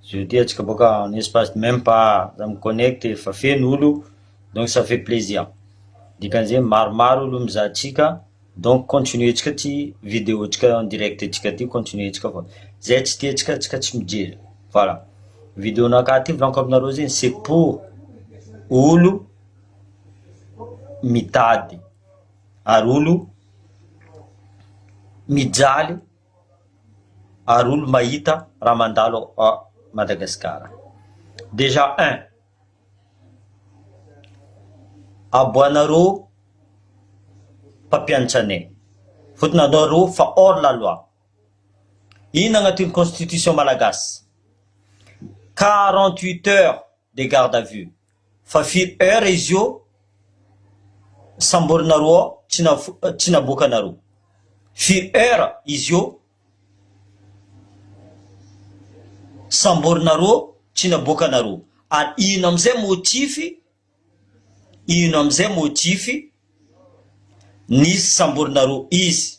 Je te atsika boaka en espace de meme pas za mi connecte efa feno olo donc ça fait plaisir dikan'izay maromaro olo mizaha antsika donc continuer tsika ty video tsika en direct tsika ty continuer tsika fa zay tsy tia tsika tsika tsy mijery voilà video nakahy ty volaniko aminareo zay c'est pour olo mitady ary olo mijaly ary olo mahita raha mandalo à Madagascar. Déjà un, aboanareo mpampianatr anay, fotony anareo fa hors la loi, inona agnatin'ny constitution malagasy? quarante huit heures de garde à vue, Fa firy heure izy io samborinareo ao tsy naboakanareo? Firy heure izy io samborinareo tsy naboakanareo? Ary ino amizay motif, ino amizay motif nisy samborinareo izy?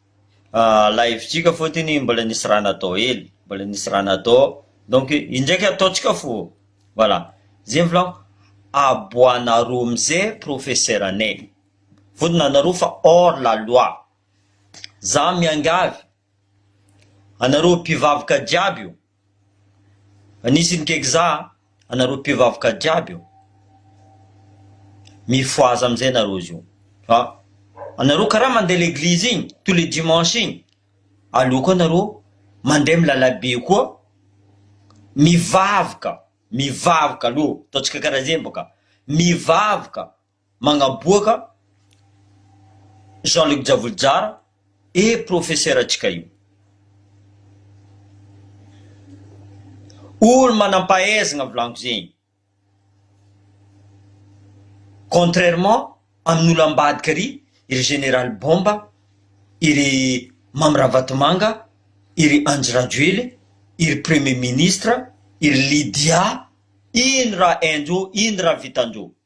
Lahivitrika fotony mbola nisy raha natao hely, mbola nisy raha natao donc indraika ataontsika fo voilà zay volako aboanareo amzay professeur anay vonona anareo fa hors la loi za miangavy anareo mpivavaka jiaby io Nisy ny gegza a! anareo mpivavaka jiaby io, mifohaza amizay nareo zio fa anareo kara mandeha leglizy igny tous les dimanches igny, aleo koa nareo mandeha am lalabe koa mivavaka, mivavaka aleo ataontsika kara zay baka, mivavaka. magnaboaka Jean Luc Javolijara e profesera ntsika io. Olo manampahaizagna volagno zegny. Contrairement amin'olo ambadika ry iry Général Bomba, iry Mamy Ravatomanga, iry Andry Rajoely, iry Premier Ministre, iry Lydia, ino raha hainjô, ino raha vitanjô.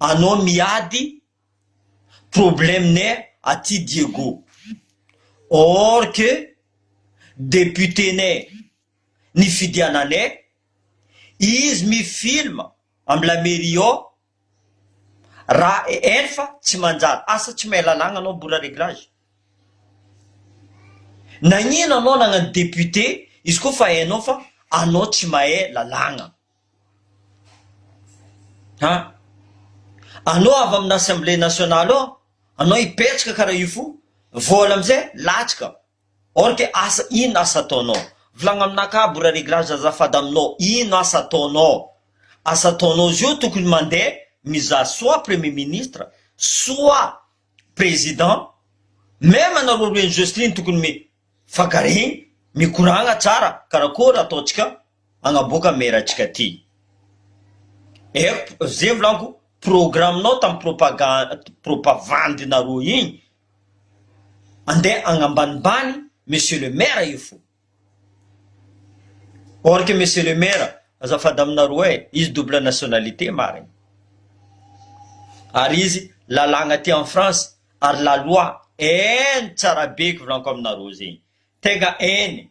Anao miady problème ne aty Diego or que député ne nifidiana ne izy mi film am la mairie ao ra enfa tsy manjary asa tsy mahay lalagna anao bora reglage nagnino anao nagnano député izy ko fa hainao fa anao tsy mahay lalagna. An! Anao avy amina assemblée nationale ao anao hipetraka karaha io fo vao ela amizay latsaka or que asa ino asa ataonao? Volagno aminah ka bora reglage azafady aminao ino asa ataonao? Asa ataonao zio tokony mandeha mizaha soit premier ministre soit président meme anareo roa enjostrine tokony mifagare mikoragna tsara karakory ataontsika Magnaboaka mera antsika ty. Erp ze volanko programme nao tam propagande propavandy nareo igny ande agnambanimbany monsieur le maire io fo or que monsieur le maire azafady aminareo e izy double nationalité marigny ary izy lalagna aty en France ary la loi eny tsarabe ko volanko aminareo zegny tegna eny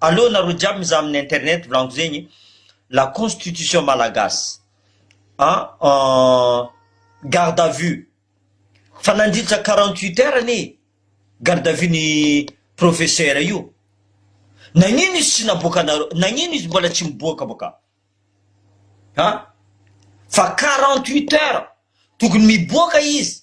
Aleo nareo jiaby mizaha amin'ny internet volagniky zegny la constitution malagasy a garde à vue fa nandritra quarante huit heure anie garde à vue ny professeur io nagnino izy tsy naboakanareo nagnino izy mbola tsy miboaka boka a fa quarante huit heure tokony miboaka izy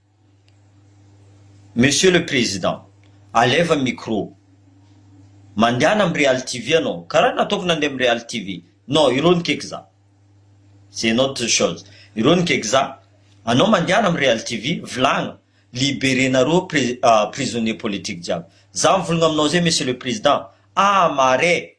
Monsieur le président, alaivo ny micro. Mandehana amin'ny Real TV ianao, karaha nataoko nandeha amin'ny Real TV. Non, ireo ny kekza. C'est une autre chose. Ireo ny kekza. Anao mandehana amin'ny Real TV, volagno. Liberer-nareo pri- prisonniers politiques jiaby. Za mivolagna aminao zay Monsieur le Président, ah marais!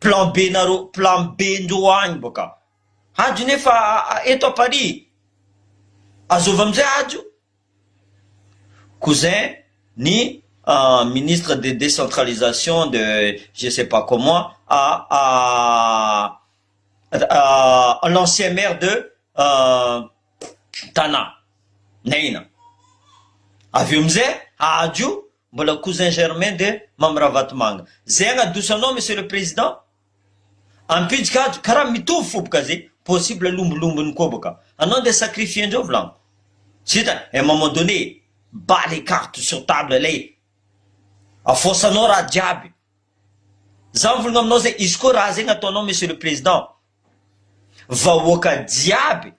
Plan B nareo plan B ndreo agny boka hajo nefa eto à Paris azôvy amizay hajo cousin ny ministre de décentralisation de je sais pas comment à à l'ancien maire de Tana Naina avy eo amizay hajo Mbola cousin germain de mamy ravatomanga zay agnadosanao monsieur le président? Ampijy kajo karaha mitovy fo boka zay possible lombolombony koa boka anao ndeha sacrifier ndreo vlan tsy hita un moment donné bats les cartes sur table lay afoasanao raha jiaby za mivolagna aminao zay izy koa raha zay gnataonao monsieur le président vahoaka jiaby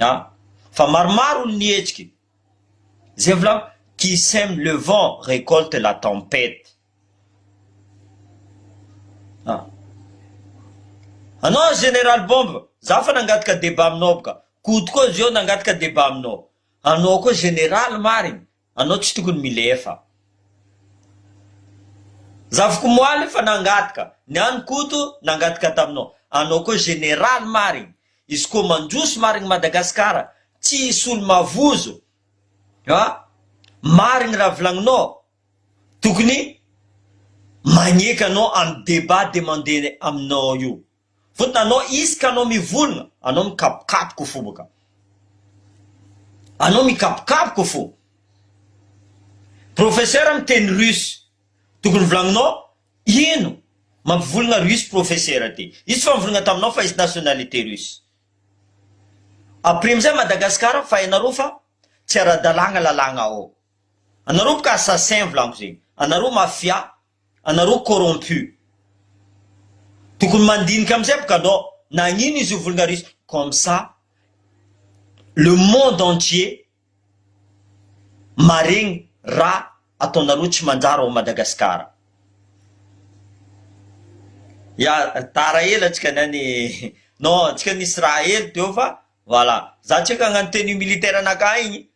a, fa maromaro ny nihetsiky, zay volako, qui sème le vent récolte la tempête a, anao général bomba za fa nangataka débat aminao bka, koto koa zao nangataka débat aminao, anao koa général marigny Anao tsy tokony milefa. Zavoko moaly fa nangataka, ny any Koto nangataka taminao, anao koa général marigny, izy koa mandroso marigny Madagascar tsy hisy olo mavozo a, marigny raha volagninao, tokony magneky anao amy débat demandé aminao io. Vota anao izy ka anao mivonona, anao mikapokapoka fo boka. Anao mikapokapoka fo. Professeur miteny russe. Tokony volagninao ino mampivolagna russe professeur ty. Izy tsy famvolagna taminao fa izy nationalité russe. Après amizay Madagascar fa hainareo fa tsy aradalagna lalagna ao. Anareo boka assassin volagno zegny. Anareo mafia anareo corrompu tokony mandinika amizay bka anao nagnino izy io vulgarise comme ça le monde entier maregny ra ataonareo tsy manjary ao Madagascar ya tara ela tsika nani non tsika nisy raha hely teo fa voila za tsika agnano tenue militaire naka igny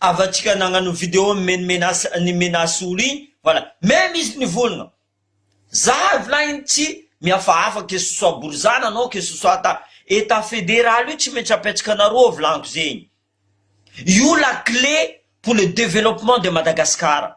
Havantsika nagnano video mimeno menace ny menace olo igny voilà meme izy nivolagna za evelyn igny tsy mihafahafa que ce soit borizana non que ce soit ta etat federal io tsy maintsy apetsaka anareo ao volagniko zegny io la clé pour le developpement de Madagascar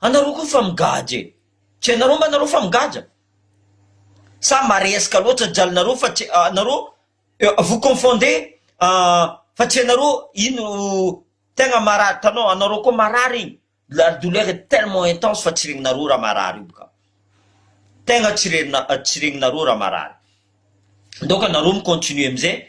Anareo koa fa migadra e! Tsy hainareo mba nareo fa migadra? Sa maresaka loatra jalinareo fa tsy nareo vous confondez fa tsy hainareo ino tegna marary tanao anareo koa marary igny la douleur est tellement intense fa tsy regninareo raha marary io ka tegna tsy regninareo raha marary donc anareo mi-continuer amizay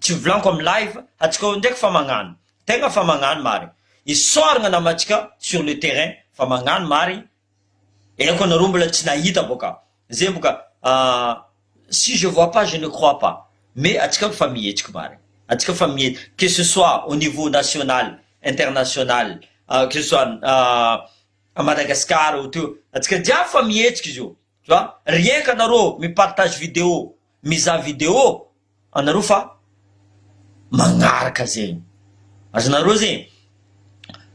tsy hovolaniko am live atsika ao ndraiky fa magnano tegna fa magnano marigny isaoragna namantsika sur le terrain fa magnano marigny aiko anareo mbola tsy nahita boka zay boka si je vois pas je ne crois pas mais atsika efa mihetsiky marigny atsika efa mihetsiky que ce soit au niveau national international que ce soit a Madagascar ohatra eo atsika jiaby fa mihetsiky izy io tu vois rien ka anareo mi partage video Mizaha video anareo fa magnaraka zegny. Azonareo zegny.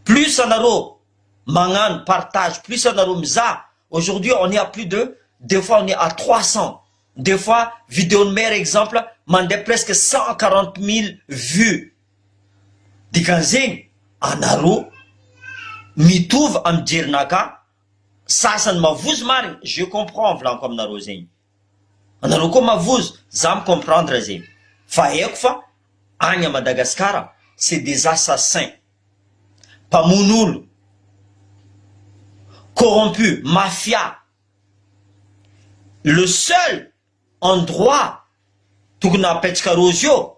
Plus anareo magnano partage, plus anareo mizaha, aujourd'hui on est à plus de des fois on est à trois cents, des fois video-n'i Mère exemple mandeha presque cent quarante mille vues. Dikan'izegny anareo mitovy amin'ny jerinakà, sasany mavozo marigny, je comprends volaniko aminareo zegny. Anareo koa mavozo, za mi comprendre zegny fa haiko fa agny à Madagascar c'est des assassins, mpamono olo, corrompu, mafia, le seul endroit tokony apetraka rozy eo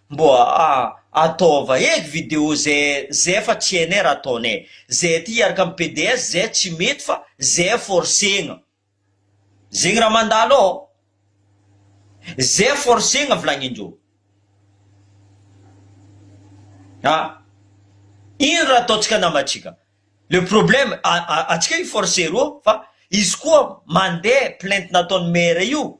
Mbô ataova eky vidéo ze ze fa tsy hainay raha ataonay. Ze aty hiaraka am PDS ze tsy mety fa ze forcegna. Zegny raha mandalo ao. Ze forcegna vilagnindreo. Ah. Ino raha ataontsika namantsika. Le problème atsika i forcer reo fa izy koa mande plainte nataony maire io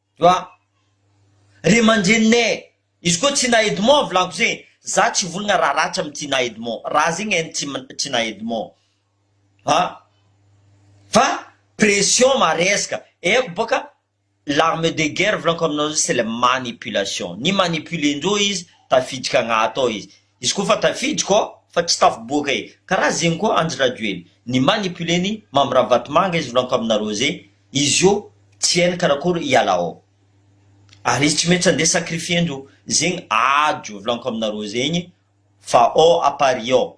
Wa. Ray aman-dreninay. Izy koa Tina Edmond volako ze, za tsy volagna raha ratsy am Tina Edmond, raha zegny en Tina Edmond a. Fa pression maresaka, eko boka l'arme de guerre volanko aminao zay c'est la manipulation, ni manipuler-ndreo izy tafiditra agnaty ao izy, Izy koa fa tafiditro ao fa tsy tafiboaka e karaha zegny koa andry rajoely ny manipuler ny mamy ravatomanga izy milanko aminareo ze izy io tsy hainy karakory hiala ao ary izy tsy maintsy andeha sacrifier ndro zegny adro vilanko aminareo zegny fa ao à paris ao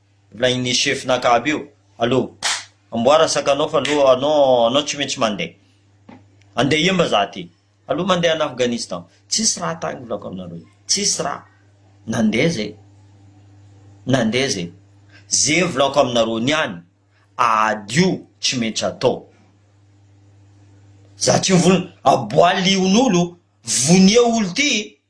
Ilay ny chef naka aby io allo amboara sakanao fa allo anao anao tsy maintsy mandeha andeha hiemba za aty allo mandeha any Afghanistan tsisy raha tagny volako aminareo io tsisy raha nandeha zay nandeha zay ze volako aminareo niany ady io tsy maintsy atao za tsy mivolona aboaly onolo vonia olo ty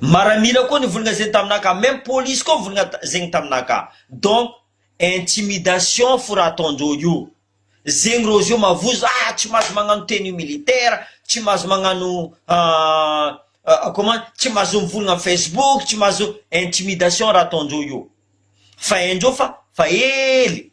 Maramila koa nivolagna zegny taminaka meme police koa nivolagna zegny taminaka donc intimidation fo raha ataondreo io zegny reo zio mavozo ah tsy mahazo magnano tenue militaire tsy mahazo magnano comment tsy mahazo mivolagna am facebook tsy mahazo intimidation raha ataondreo io fa haindreo fa fa hely.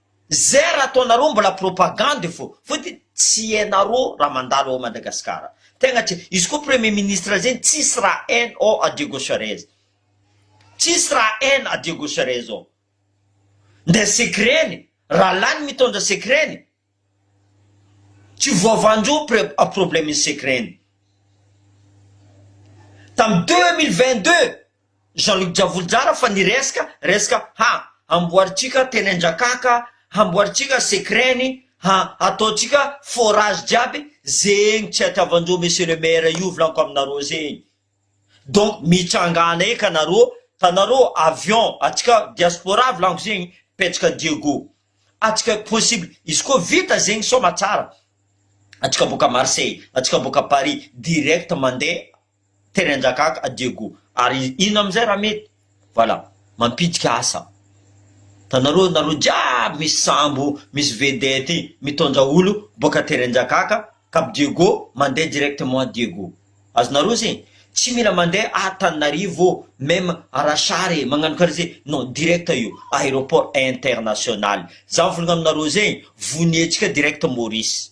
Zr ataonareo mbola propagande fô fotiny tsy hainarô raha mandalo ao Madagascar tegna tsy izy koa premier ministre zegny tsisy raha hainy ô à Diego Suarez tsisy raha hainy à Diego Suarez ô nde secret ny raha lany mitondra secret ny tsy voavanjo pre à problème ny secret ny tam deux mille vingt deux Jean Luc Javoly Jara fa ny reska reska ha amboarintsika teny Anjakaka hamboarintsika secret ny ha ataontsika forage jiaby zegny tsy atiavanjo monsieur le maire io volaniko aminareo zegny donc mitsangana eka nareo tanareo avion atsika diaspora volaniko zegny petsaka Diego atsika possible izy koa vita zegny somatsara atsika boaka Marseille atsika boaka Paris direct mandeha Terenjakaka à Diego ary ino amizay raha mety? Voilà mampitika asa tanareo nareo jiaby misy sambo misy vedette mitondra olo boaka Terenjakaka cap Diego mandeha directement à Diego azonareo zay tsy mila mandeha à Tananarivo meme à Rachar e magnano kara zay non direct io aéroport international za mivolagna aminareo zay vonietsika direct Maurice.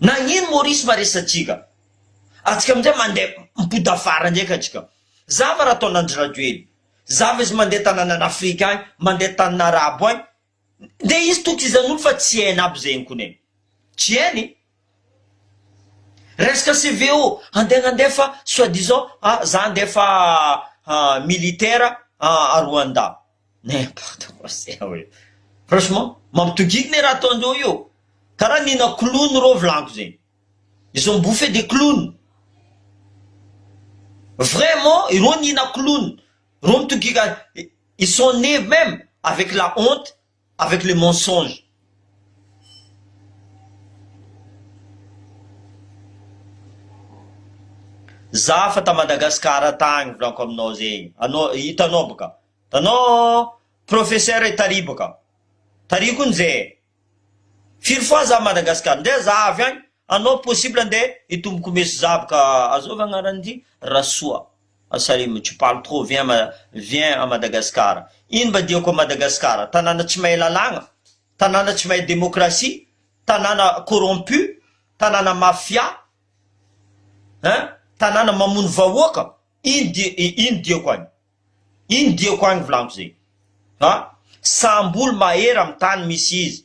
Nagnino Maurice va resa tsika? Atsika amizay mande mipodafara ndraika atsika. Za va ra ataon Andry Rajoely. Za va izy mande tananan Afrika agny, mande tanin Arabo agny. Nde izy tokizanolo fa tsy hainy aby zegny kone. Tsy hainy. Resaka CVO, andeha nandefa soit disant a za handefa militaire a Rwanda. N'importe quoi se ao io. Franchement, mampitogiky ne raha ataondreo io. Karaha nihina clown reo vilako zegny. Ils ont bouffé des clowns. Vraiment, ireo nihina clown. Reo mitogiky, ils sont nés même avec la honte avec le mensonge. Za fa ta Madagascar tagny volako aminao zegny anao hitanao boka tanao professeur e tary boka tary kony ze firy fois za Madagascar nde za avy agny anao possible nde hitombo komeso za boka azôva agnarany ty Rasoa. Salim, tu parles trop, viens à viens à Madagascar. Ino mba diako à Madagascar? Tanàna tsy mahay lalàgna? Tanàna tsy mahay démocratie? Tanàna corrompu? Tanàna mafia? Hein? Tanàna mamono vahoaka? Ino di ino diako agny? Ino diako agny volagno zegny? Ha? Sambo olo mahery am tany misy izy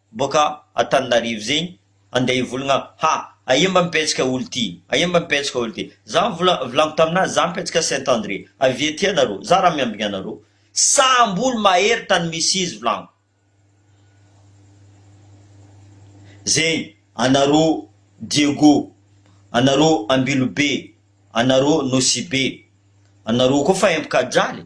boka Antananarivo zegny andeha hivolagna ha aia mba mipetsaka olo ty aia mba mipetsaka olo ty za vola volagno taminah za mipetsaka Saint André avia aty anareo za raha miambigna anareo sambo olo mahery tany misy izy volagno zegny anareo Diego anareo Ambilobe anareo Nosibe anareo koa fa empaka adraly.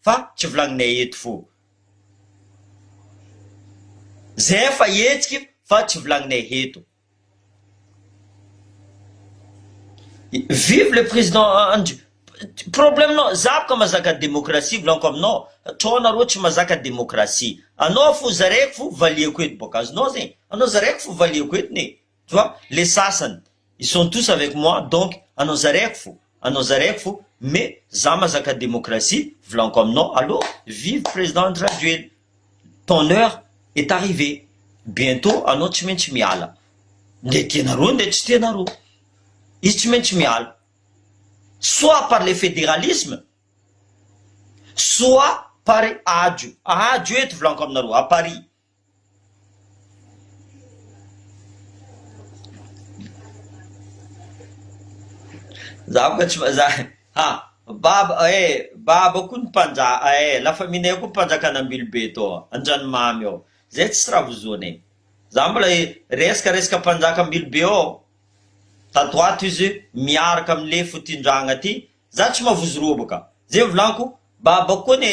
Fa tsy volagninay eto fô. Zay efa hetsika fa tsy volagninay heto. Vive le président Andry problème nao za boka mazaka démocratie volaniko aminao trop nareo tsy mazaka démocratie anao fo zaraiko fo valiako eto boka azonao zegny anao zaraiko fo valiako eto ne Tu vois, le sasany ils sont tous avec moi donc anao zaraiko fo, anao zaraiko fo mais za mazaka demokrasia volaniko aminao allo vive président Andry Rajoelina ton heure est arrivé bientot anao tsy maintsy miala ndeha tianareo ndeha tsy tianareo izy tsy maintsy miala soit par le fédéralisme soit par ajo ajo eto volaniko aminareo à Paris Zaho ka tsy vazaha e! Ha! Baba eh! Baba koa ny mpanja eh! La famille nay koa mpanjakana Ambilobe tao Andranomamy ao! Zay tsisy raha vozona e! Za mbola resaka resaka mpanjaka Ambilobe ao tato ato izy miaraka am le fotindragna ty za tsy mavozo robaka! Ze volagno ko Baba koa ny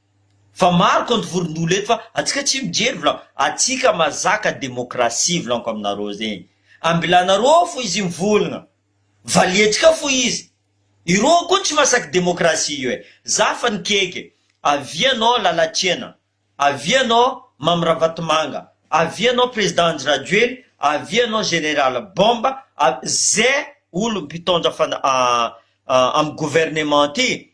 Fa maro compte vorondolo eto fa atsika tsy mijery vlan atsika mazaka democratie vlanko aminareo zegny ambilanareo ao fo izy mivolgna valiantsika fo izy ireo koa tsy masaky democratie io e za fa nikeke avia anao lalatsiena avia anao mamy ravatomanga avia anao president andry rajoely avia anao general bomba a ze olo mpitaondra fana a a amy gouvernement ty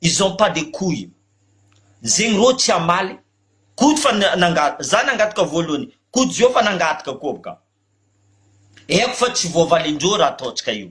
Ils ont pas de couille zegny rô tsy hamaly Koto fa nangataka za nangataka voalohany Koto zao fa nangataka koa bka haiko fa tsy voavalindreo raha ataontsika io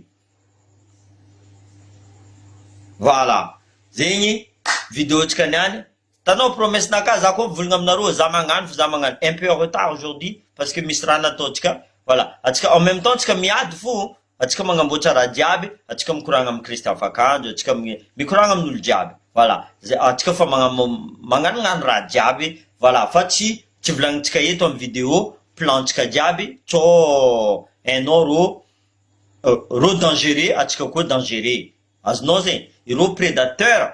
Voilà zegny video ntsika niany Hitanao promesse n'a cas za koa mivolgna aminareo za magnano fa za magnano un peu en retard aujourd'hui parce que misy raha nataontsika voilà antsika en même temps antsika miady fo antsika magnamboatra raha jiaby antsika mikoragna amin'i Kristy afakanjo antsika mikoragna amin'olo jiaby voilà zay antsika efa magnanognano raha jiaby voilà fa tsy tsy volagnintsika eto amin'ny vidéo plan antsika jiaby co hainao rô rô dangereux antsika koa dangereux azonao zay irô predateur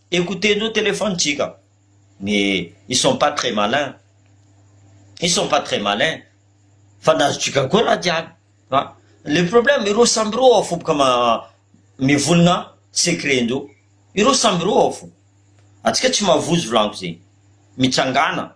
Écoutez nos téléphones tsika mais ils sont pas très malins ils sont pas très malins fa ny azontsika koa ratsy aby fa le problème ireo samy ireo ao foboka ma mivonona secret ndreo ireo samy ireo ao fo atsika tsy mavozo volagno zegny mitsangana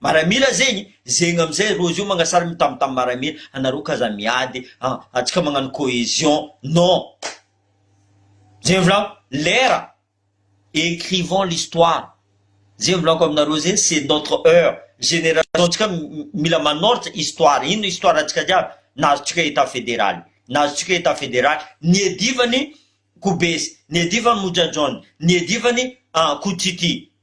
Maramila zegny zegny amizay rozy io magnasary mitam tam maramila anareo ka za miady a atsika magnano cohesion non zegny volagno lera ecrivons l'histoire zegny volagno aminareo zegny c'est notre heure generation tsika mila manoratra histoire ino histoire tsika jiaby nahazo tsika etat federal nahazo tsika etat federal niadivany kobesy niadivany mojajon niadivany a kotity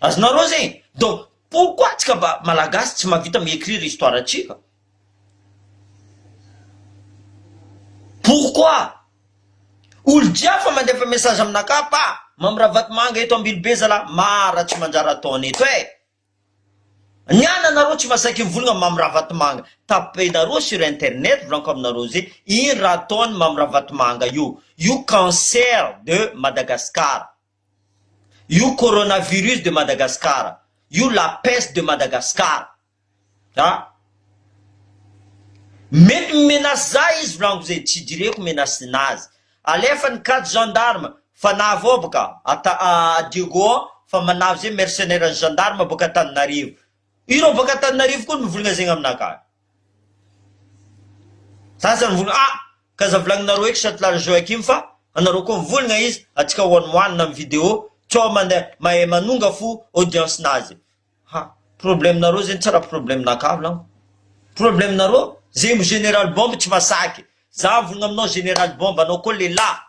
Azonareo zay e! Donc pourquoi antsika mba Malagasy tsy mahavita mi écrire histoire antsika? Pourquoi? Olo dia fa mandefa message aminakahy pa Mamy Ravatomanga eto Ambilobe zalah mara tsy manjary ataony eto eh! Ny an anareo tsy masaiky mivolagna Mamy Ravatomanga tapenareo sur internet volanko aminareo ze ino raha ataony Mamy Ravatomanga io io cancer de Madagascar. Io coronavirus de Madagascar, io la peste de Madagascar a! Mety mi menace za izy volagno ze tsy idireko menace nazy. Alefa ny cad gendarme fa navao boka ata a Diego ao fa manavy ze mercenaire ny gendarme boka Antananarivo. Ireo boka Antananarivo koa mivolagna zegny aminakahy. Za aza mivolagna ah ka aza volagninareo eky Chatelard Joachim fa anareo koa mivolagna izy atsika one one na am video co mande mahay manonga fo audience nazy ha problème nareo zegny tsy raha problème naka volagno problème nareo zegny general bombe tsy masaky za mivolagna aminao general bombe anao koa lelah.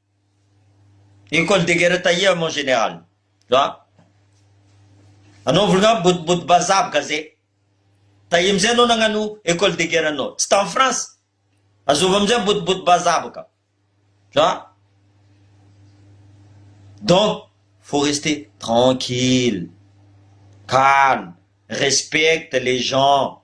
Ecole de guerre taia mon general a! Anaovy ngamba bodobodo bazaha gaze taia amizay anao nagnano ecole de guerre anao tsy tany France azovy amizay bodobodo bazaha baka a! Donc faut rester tranquille, calme, respecte les gens.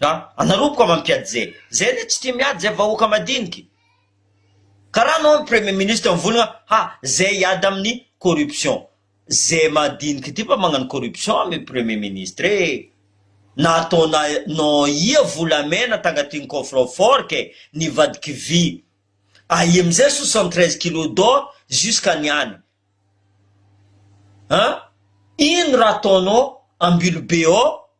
a! anareo boka mampiady zay, zay le tsy tia miady zay vahoaka madiniky, karaha anao premier ministre mivonogna ha zay hiady aminy corruption, zay madiniky ty mba magnano corruption amy premier ministre e! nataona nao ia volamena tagnatiny coffre fort kay nivadiky vy, aia amizay soixante treize kilos d'or jusqu'à niany a! ino raha ataonao ambilobe ao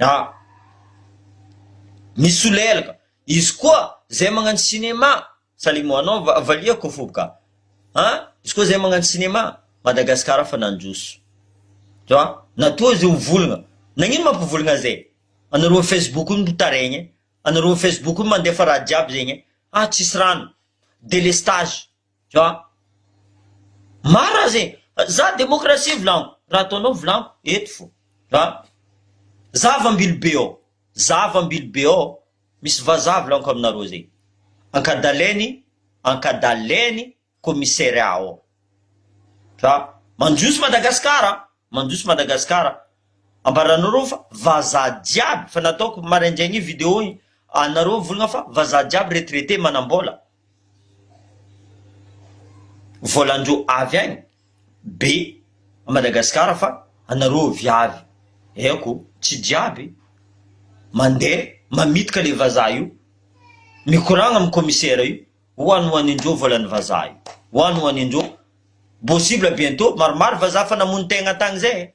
A, Misolelaka, izy koa zay magnano cinéma, salut mon nom va, valiako fo ka, a, izy koa zay magnano cinéma, Madagasikara fa nandroso, tu vois, na toa izy ho volagna, nagnino mampivolagna zay, anareo facebook no mitaregny e, anareo facebook no mandefa raha jiaby zegny e, ah tsisy rano, delestage. Jah. Marina aza e! Za demokrasia volagno, raha ataonao volagno eto fo. Jah. Zava ambilobe ao, zava ambilobe ao misy vazaha volagniko aminareo zay. Ankadalainy, ankadalainy commissariat ao. Jah. Mandroso Madagasikara, mandroso Madagasikara. Ambaranareo fa vazaha jiaby, fa nataoko maraindraigny io video io, anareo volagna fa vazaha jiaby retraité manambola. voalandro avy any be Madagascar fa anareo viavy aiko tsy jiaby mandeha mamitka le vazaha io mikoragna am commissaire io hoan hoan indreo voalan'ny vazaha io hoan hoan indreo possible bientot maromaro vazaha fa namono tegna tagny zay e.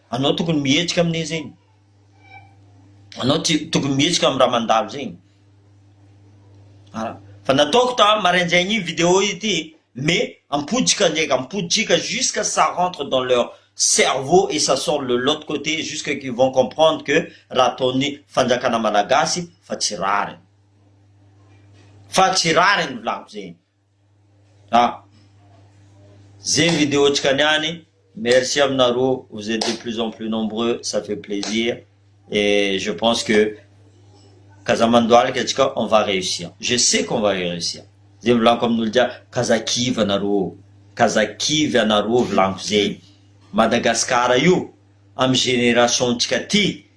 Anao tokony mihetsika amin'e zegny. Anao tsy tokony mihetsika amin'ny raha mandalo zegny. Ah, fa nataoko ta maraindraigny io vidéo ity mais ampotsika ndraika, ampotsika jusqu'à ça rentre dans leur cerveau et ça sort le l'autre côté jusqu'à qu'ils vont comprendre que raha ataon'ny fanjakana malagasy fa tsy rariny. Fa tsy rariny volako zegny. A! Zay video tsika niany, merci aminareo, vous etes de plus en plus nombreux, ça fait plaisir et je pense que k'aza mandohalika atsika on va réussir, je sais qu'on va réussir, zay volaniko amin'olo jiaby, k'aza kivy anareo ô, k'aza kivy anareo volaniko zegny, Madagascar io, am génération tsika ty,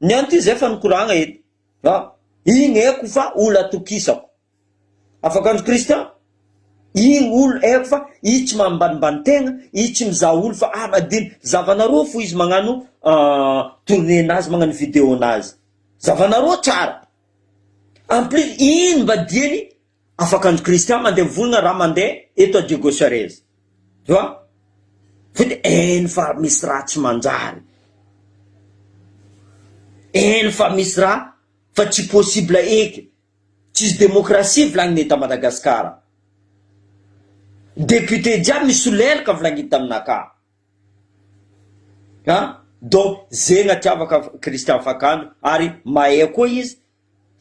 Ny an'ity izay fa nikoragna eto. Fa igny haiko fa olo atokisako. Afakanjo Christian, igny olo haiko fa izy tsy mambanimbany tegna, izy tsy mizaha olo fa ah madilo, zavanareo fo izy magnano tourner nazy, magnano video nazy, zavanareo tsara, en plus ino mba diany. Afaka ny Christian mandeha mivolagna raha mandeha eto à Diego Suarez. Tu vois? Fa de eny fa misy raha tsy manjary. Eny fa misy raha fa tsy possible eky. Tsisy demokrasia volagny eto à Madagascar. Député jiaby misolelaka volagniny taminaka. An! Donc zegna tiavaka Christian Fakandro ary mahay koa izy.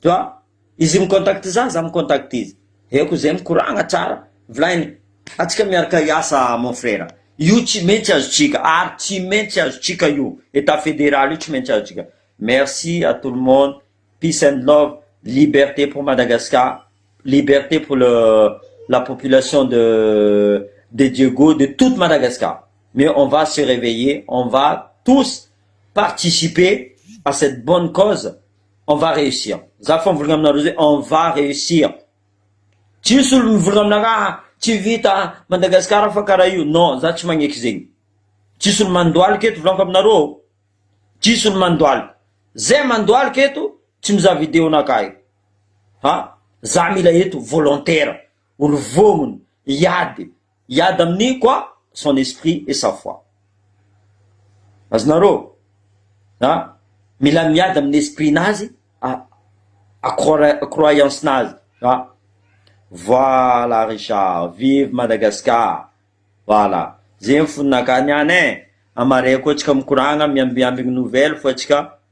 Tu vois? Izy mi-contacte za, za mi-contacte izy. Dia koa izay mikoragna tsara, volainy, antsika miaraka hiasa mon frère, io tsy maintsy azontsika, ary tsy maintsy azontsika io, état fédéral io tsy maintsy azontsika. Merci à tout le monde, peace and love, liberté pour Madagascar, liberté pour le la population de de Diego, de toute Madagascar. Mais on va se réveiller, on va tous participer à cette bonne cause. On va réussir. Za fa mivolagna aminareo zay on va réussir. Tsy misy olo mivolagna aminareo ah tsy vita ah Madagascar fa karaha io non za tsy magneky zegny. Tsy misy olo mandohalika eto volagniko aminareo ô. Tsy misy olo mandohalika. Zay mandohalika eto tsy mizaha video nakahy. Ha za mila eto volontaire, olo vômgny hiady. Hiady amin'ny quoi? Son esprit et sa foi. Azonareo? A! Mila miady amin'ny esprit-nazy, a croyance-nazy. A! Voilà Richard, vive Madagascar! Voilà, zay ny foninakà niany e! Amarihako antsika mikoragna miambiambigny nouvelle fa antsika